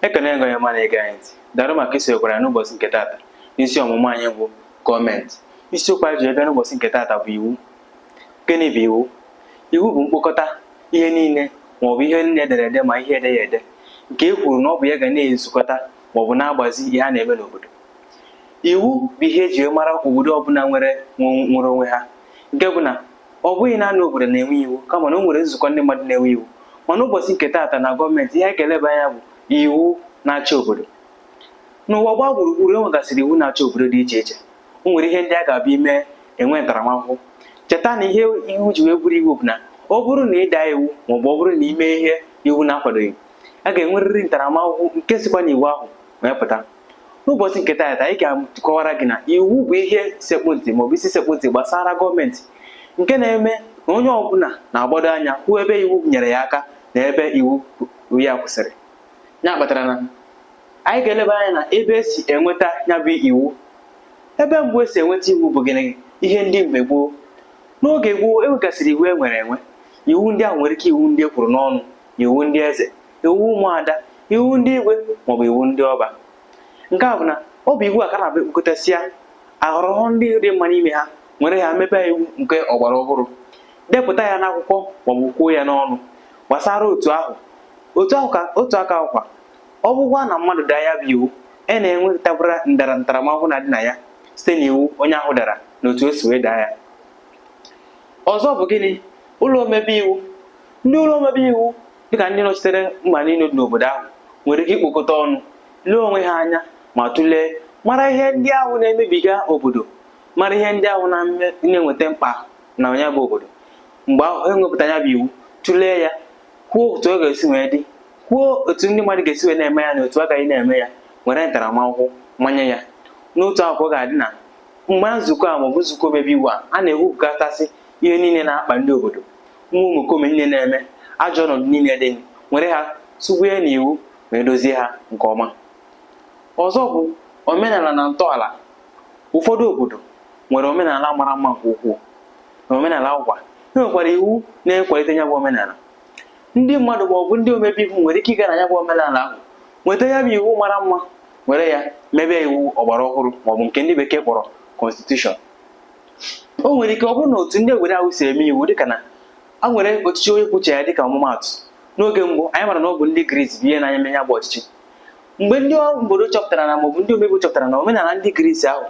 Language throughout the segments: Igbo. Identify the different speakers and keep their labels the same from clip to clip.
Speaker 1: ekene gị onye ọma na-ege anyị ntị daalụ maka isonyekwara anyị n'ụbọchị nke taata n'isi ọmụmụ anyị bụ gọọmenti isiokwu anyị ji aga n'ụbọchị nke taata bụ iwu gịnị bụ iwu iwu bụ mkpokọta ihe niile maọbụ ihe niile edere ede ma ihe edeghị ede nke e kwuru na ọ bụ ya ga na-ezukọta maọbụ na-agbazi ihe a na-eme n'obodo iwu bụ ihe eji mara obodo ọbụla nwere nwere onwe ha nke bụ na ọ bụghị naanị obodo na-enwe iwu kama na o nwere nzukọ ndị mmadụ na-enwe iwu mana ụbọchị nke taata na gọọmenti ihe anyị ga-eleba anya bụ iwu na-achị obodo n'ụwa gbaa gburugburu e nwegasịrị iwu na-achị obodo dị iche iche o nwere ihe ndị a ga-abụ i mee e nwee ntaramahụhụ cheta na ihe iwu ji wee bụrụ iwu bụ na ọ bụrụ na ị daa iwu maọbụ ọ bụrụ na ị mee ihe iwu na-akwadoghị a ga-enwerịrị ntaramahụhụ nke sikwa n'iwu ahụ wee pụta n'ụbọchị nke taata anyị ga-akọwara gị na iwu bụ ihe sekpụ ntị maọbụ isi sekpụ ntị gbasara gọọmenti nke na-eme na onye ọbụla na-agbado anya hụ ebe iwu nyere ya aka na ebe iwu ya kwụsịrị ya kpatara na anyị ga-eleba anya na ebe esi enweta ya bụ iwu ebe mbụ esi enweta iwu bụ gịnị ihe ndị mgbe gboo n'oge gboo enwegasịrị iwu e nwere enwe iwu ndị ahụ nwere ike iwu ndị e kwuru n'ọnụ iwu ndị eze iwu ụmụada iwu ndị igwe maọbụ iwu ndị ọba nke a bụ na ọ bụ iwu a ka na-abụ e kpokọtasịa a họrọ ndị dị mma n'ime ha nwere ya mebe iwu nke ọgbara ọhụrụ depụta ya n'akwụkwọ maọbụ kwuo ya n'ọnụ gbasara otu ahụ otu ahụ ka otu aka ahụ kwa ọ bụrụkwa na mmadụ daa ya bụ iwu a na-enwetakwara ntara ntaramahụhụ na-adị na ya site n'iwu onye ahụ dara na otu o si wee daa ya ọzọ bụ gịnị ụlọ omebe iwu ndị ụlọ omebe iwu dịka ndị nọchitere mba niile dị n'obodo ahụ nwere ike ikpokọta ọnụ lee onwe ha anya ma tụlee mara ihe ndị ahụ na-emebiga obodo mara ihe ndị ahụ na-eweta mkpa na nya bụ obodo mgbe ahụ e wepụta ya bụ iwu tụlee ya kwuo otu ọ ga-esi wee dị kwuo otu ndị mmadụ ga-esi wee na-eme ya na otu a gaghị na-eme ya were ntaramahụhụ manye ya n'otu akwụkwọ ga-adị na mgbe nzukọ a maọbụ nzukọ omebe iwu a a na-ewepụgasị ihe niile na-akpa ndị obodo nwa omekome niile na-eme ajọ ọnọdụ niile dị nwere ha tụnye n'iwu wee dozie ha nke ọma ọzọ bụ omenala na ntọala ụfọdụ obodo nwere omenala mara mma nke ukwuu n'omenala ahụkwa e nwekwara iwu na-ekwalite ya bụ omenala ndị mmadụ ma ọ bụ ndị omebe iwu nwere ike ịga na ya bụ omenala ahụ nweta ya bụ iwu mara mma were ya mebe iwu ọgbara ọhụrụ maọbụ nke ndị bekee kpọrọ constitution o nwere ike ọ bụrụ na otu ndị egwere ahụ si eme iwu dịka na a nwere ọchịchị onye kwuo uche ya dịka ọmụmaatụ n'oge mbụ anyị mara na ọ bụ ndị Gris bụ ihe na-anya eme ya bụ ọchịchị mgbe ndị obodo chọpụtara na maọbụ ndị omebe chọpụtara na omenala ndị Gris ahụ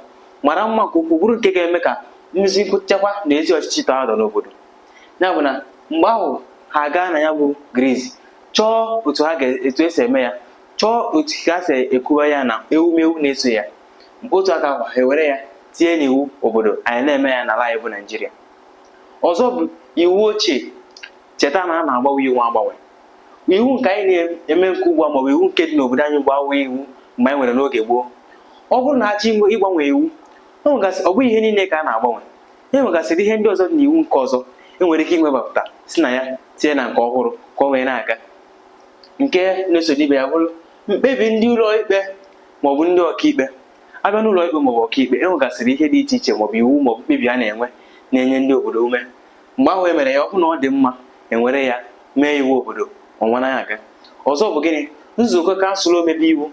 Speaker 1: mara mma nke ukwuu bụrụ nke ga-eme ka mmezi nchekwa na ezi ọchịchị tọọ atọ n'obodo ya bụ na mgbe ahụ ha gaa na ya bụ Gris chọọ otu ha etu e si eme ya chọọ otu ha si ekwuwa ya na ewumewu na-eso ya mgbe otu aka ahụ ha ewere ya tinye n'iwu obodo anyị na-eme ya n'ala anyị bụ Naijiria ọzọ bụ iwu ochie cheta na a na-agbanwe iwu agbanwe iwu nke anyị na-eme nke ugbu a maọbụ iwu nke dị n'obodo anyị ugbu a abụghị iwu mgbe anyị nwere n'oge gboo ọ bụrụ na a chọọ ịgbanwe iwu e ọ bụghị ihe niile ka a na-agbanwe e nwegasịrị ihe ndị ọzọ dị n'iwu nke ọzọ e nwere ike iwebapụta si na ya tinye na nke ọhụrụ ka ọ wee na-aga nke na-eso ibe ya bụrụ mkpebi ndị ụlọ ikpe ma ọ bụ ndị ọkaikpe a bịa n'ụlọ ikpe maọbụ ọkaikpe e nwegasịrị ihe dị iche iche maọbụ iwu maọbụ mkpebi a na-enwe na-enye ndị obodo ume mgbe ahụ e mere ya ọ bụrụ na ọ dị mma e were ya mee iwu obodo o were na-aga ọzọ bụ gịnị nzukọ kansụl omebe iwu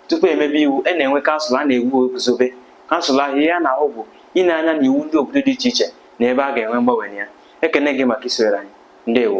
Speaker 1: tupu e mebe iwu a na-enwe kansụl a na-eguzobe kansụl ahụ ihe ha na-ahụ bụ ile anya n'iwu ndị obodo dị iche iche na ebe a ga-enwe mgbanwe na ya ekene gị maka isonyere anyị ndewo